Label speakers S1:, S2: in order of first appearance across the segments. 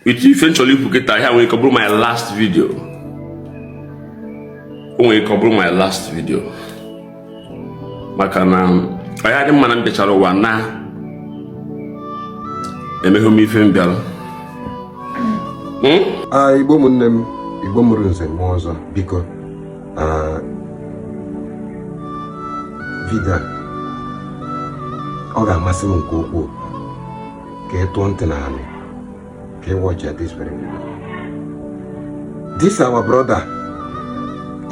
S1: uche ife m chọrọ ikwu kịtaa o nwere ike ọ bụrụ my last video o nwere ike ọ bụrụ my last video maka na ọ ya-adị mma na m bịachara ụwa na emeghị m ife m bịara
S2: hmm? ah, igbo ụmụnne m igbo mụrụ nze mụọ ọzọ biko ah, vidio ọ ga-amasị m nke ukwuu ka ị tụọ ntị n'anị ka ị watch ya this very video this our brother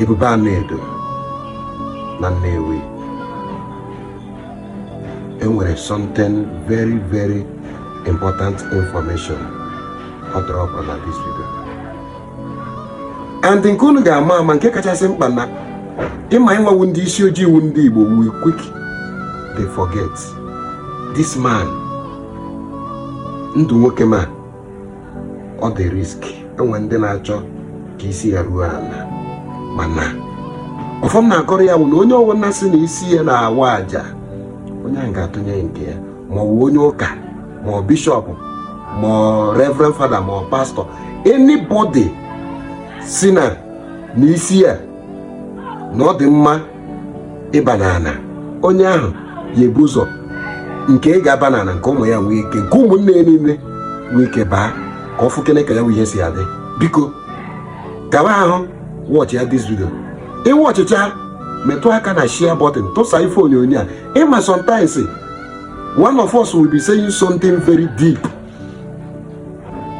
S2: Ebube Anaedo na Nnewi e nwere something very very important information ọ dropụrụ na this video and nke unu ga-ama ama nke kachasị mkpa na ị ma anyị nwa wụ ndị isi ojii wụ ndị Igbo we quick dey forget this man ndụ nwoke m a ọ dị risk e nwee ndị na-achọ ka isi ya ruo ana mana ọfọ m na-agọrọ ya wụ na onye ọwụna sị na isi ya na-awa aja onye ahụ ga-atụnye nke ya ma ọ wụ onye ụka ma ọ bishop ma ọ reverend father ma ọ pastor anybody sị na isi ya na ọ dị mma ịba n'ana onye ahụ ya-ebu ụzọ nke ya ga-aba n'ana nke ụmụ ya nwoke nke ụmụnne ya nwoke abaa ka ọ fụkene ka ya bụ ihe si adị biko kawa ahụ watch ya this video ị watchcha metụ aka na share button tụsa ife onyonyo a ị ma sometimes one of us will be saying something very deep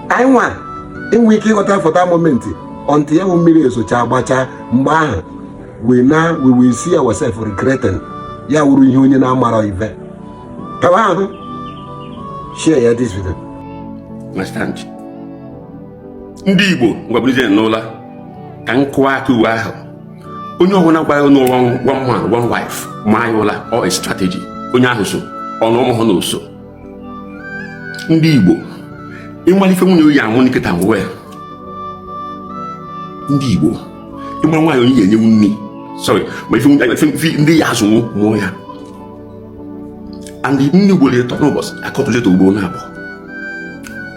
S2: anyị nwa enwe ike ịghọta for that moment until ya bụ mmiri ezochaa gbachaa mgbe ahụ we now we will see ourselves regretting ya wụrụ ihe onye na-amara ibe kawa ahụ share ya this video
S1: understand ndị Igbo ngwa bilizie n'ụla ka m kụọ aka uwe ahụ onye ọbụla gwara unu na ọ one man one wife maa ya ụla ọ strategy onye ahụ so unu amahụ na o so ndị igbo ị ma ife nwunye oyi anwụ nkịta nwe ndị igbo ị mara nwaanyị onye ya enyewu nri sorry ma ife ndị ya azụ ụmụ ya and nni ugboro ịtọ n'ụbọchị akọtụleta ugboro naabọ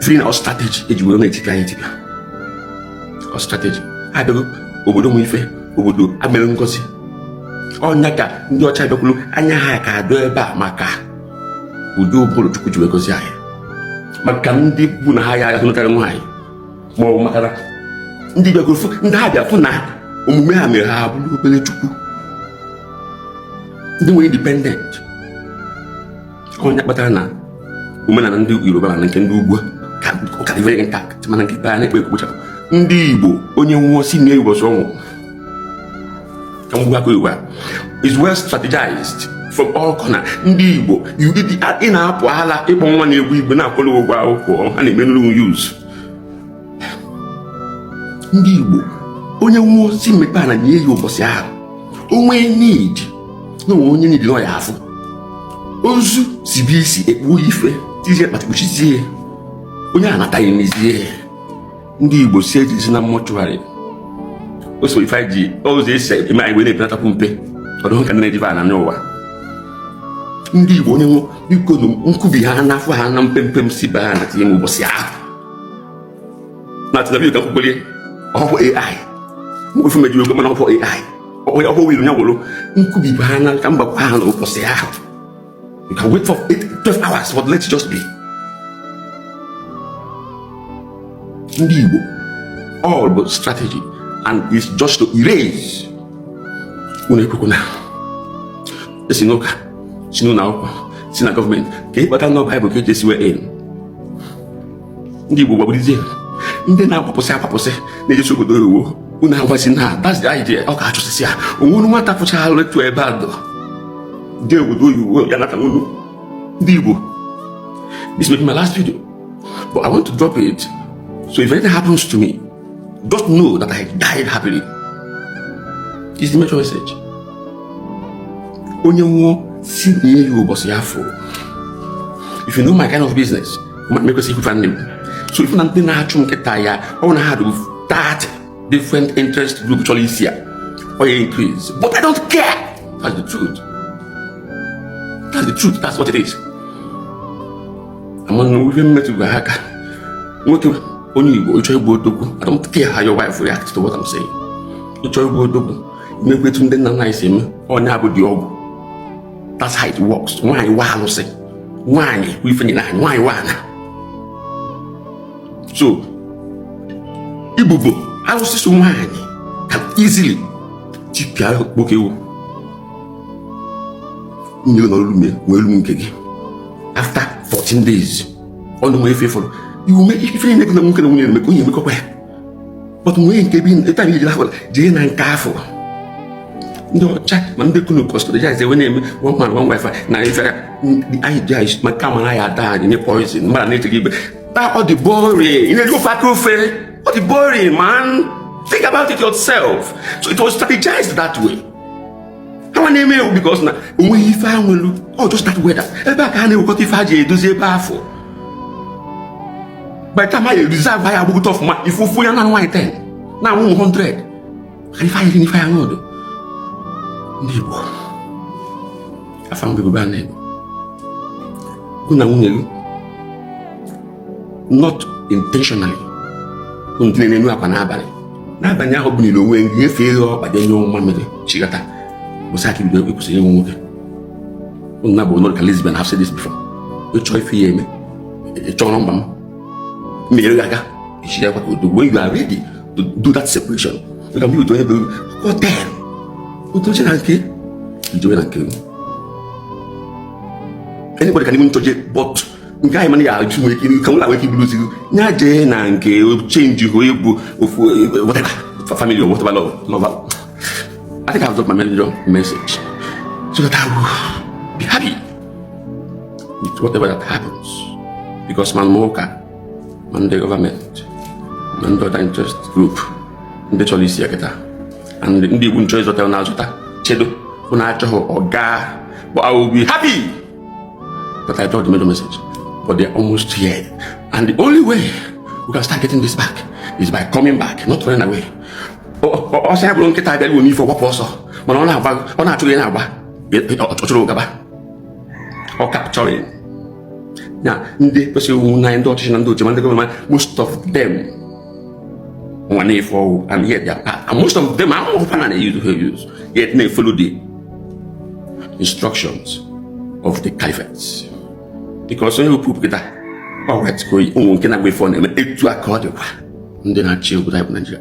S1: fụrụ na ọ strategy e ji were na-etipịa anyị etipịa ọ strategy ha bịago obodo nwe ife obodo a mere ngọzi ọ nya ka ndị ọcha bịakwuru anya ha ka dụ ebe a maka ụdị ụbụrụ Chukwu ji wee gọzie anyị maka ndị bụ na ha ya ahụnụkarị nwaanyị ma ọ bụ maka na ndị bịagoro fụ ndị ha bịa fụ na omume ha mere ha bụrụ obere chukwu ndị nwere independent ọ ya kpatara na omenala ndị yoruba na nke ndị ugwu ka ọ ka dị very intact mana nke ikpe a na-ekpe ekpochapụ ndị igbo onye nwụọ si na ụbọchị ọnwụ ka mgbu aka yoruba is well strategized from all corners ndị igbo you- ị na-apụ ala ịkpọ nwa na-egwu igbo na-akwụrụ ụgwọ akwụkwọ ha na-eme unu use ndị Igbo onye nwụọ si mepe ana nie ya ụbọchị ahụ o nwee need na o nwee onye need nọ ya afụ ozu sibe isi ekpuo ya ife tizie akpatị kpuchizie onye anataghị nizie ndị Igbo si ejezina mortuary o so ife ji ụzọ esi eme anyị wee na-epenatakwu mpe ọ dị ka nne diva na n'ụwa ndị Igbo onye nwụọ biko na nkubi ha n'afọ ha na mpempe m si baa ana tinye m ụbọchị ahụ na tinabi ka nkwukwere ọhụụ ai mkpefu mejiri ego mana ọhụụ ai onye ọhụụ wiri ya gwụrụ nkubi baa ana ka m bakwa ana ụbọchị ahụ you can wait for eight, 12 hours but let's just be ndị Igbo all bụ strategy and it's just to erase unu ekwekwana si n'ụka si n'ụlọ akwụkwọ si na gọọmenti ka ịkpata nọ baịbụl ka eji esiwe in ndị igbo gbagburuzie ndị na-akwapụsị akwapụsị na-ejechi obodo oyiwo unu agwazi na that's the idea ọ ga-achụsịsị ya o nwere nwata pụchara letu ebe a dọ ndị obodo oyiwo ya nata unu ndị igbo this will be my last video but i want to drop it so if anything happens to me Just know that I died happily. It's the major message. Onye nwụọ si nie ya ụbọchị afụ. If you know my kind of business, m ekwesị ikwu ife a nne m. So ị fụ na ndị na-achụ m kịta a, ọ bụ na ha dị 30 different interest group chọrọ isi ya. Ọ ya increase. But I don't care. That's the truth. That's the truth. That's what it is. Among women, men to Nwoke onye igbo ị chọọ ịbụ odogwu I don't care how your wife reacts to what I'm saying ị chọọ ịbụ odogwu i mekwa etu ndị nna nna anyị si eme onye abụ odogwu that's how it works nwaanyị wụ alụsị nwaanyị bụ ife e nyere anyị nwaanyị wụ ana so ibubo alụsị so nwaanyị can easily tipịa nwoke ewu mmiri nọrọ lume wee lu nke gị after 14 days ọnụ nwere ife fọrọ iwu mee ife niile gị na nwoke na nwunye na-eme ka onye emekọkwa ya but nwee nke bi ịta na ijiri akwara jee na nke afụ ndị ọcha ma ndị kunu kọstọrọ ya e wee na-eme one man one wife na ife anyị ji anyị ma kama na ya ada anyị nye poison mara na-echeghị ibe taa ọ dị boring ị na-eri ofu aka ofe ọ dị boring man think about it yourself so it was strategized that way ha na-eme iwu because na onweghị ife a nwelu ọ just that weather ebe a ka ha na-ewekọta ife a ji edozi ebe afụ by time anyị reserve ya agbagote ọfụma ị fụ ofu onye na-anụ nwaanyị 10 na-enwe ụmụ 100 ha ife anyị ri n'ife anyị ọdụ ndị Igbo afa mgbe bụ be a na-egbu gụ na nwunye gị not intentionally ndị na-enu akwa n'abalị n'abalị ahụ bụ nile onwe gị nyefee ghe ọkpa nye nwa mmiri chigata bụsị aka bido ịkwụsị ịnụ nwoke na-abụ onye ka lesbian I've said this before ịchọ ife ya eme ị chọọ nọmba m mmiri gị aga ichi ya kwaka ọdọ when you are ready to do that separation ka m otu onye bụ hotel otu oche na nke ijewe na nke anybody can even touch it but nke anyị mana ya achụ nwere ike ka nwere ike bụrụ ozigbo ya jee na nke change hụ ịbụ ofu whatever family or whatever love love I think I've dropped my major message so that I will be happy with whatever that happens because ma ndị ụka ma ndị government ma ndị other interest group ndị chọrọ isi ya kịta and ndị Igbo m chọ ịzọta na-azọta chedo bụ na achọghị ọ gaa but I will be happy that I dropped the major message. But they're almost here. And the only way we can start getting this back is by coming back, not running away. ọsọ ya bụrụ nkịta abịa iwe m ife ọ gbapụ ọsọ mana ọ na-agba ọ na-achụ gị na-agba ọ chụrụ gaba ọ capture ya ndị kwesịrị iwu na ndị ọchịchị na ndị oche ma ndị gọọmenti and most of them nwa na-efe ọwụ and yet they are part and most of them ahụgo na a na-eyuzu ha eyuzu yet na-efolo the instructions of the caliphate because ihe opu kịta gbanwere tiko ụmụ nke na-agba ife ọ na-eme etu a ka ọ dịkwa ndị na-achị obodo anyị bụ Naijiria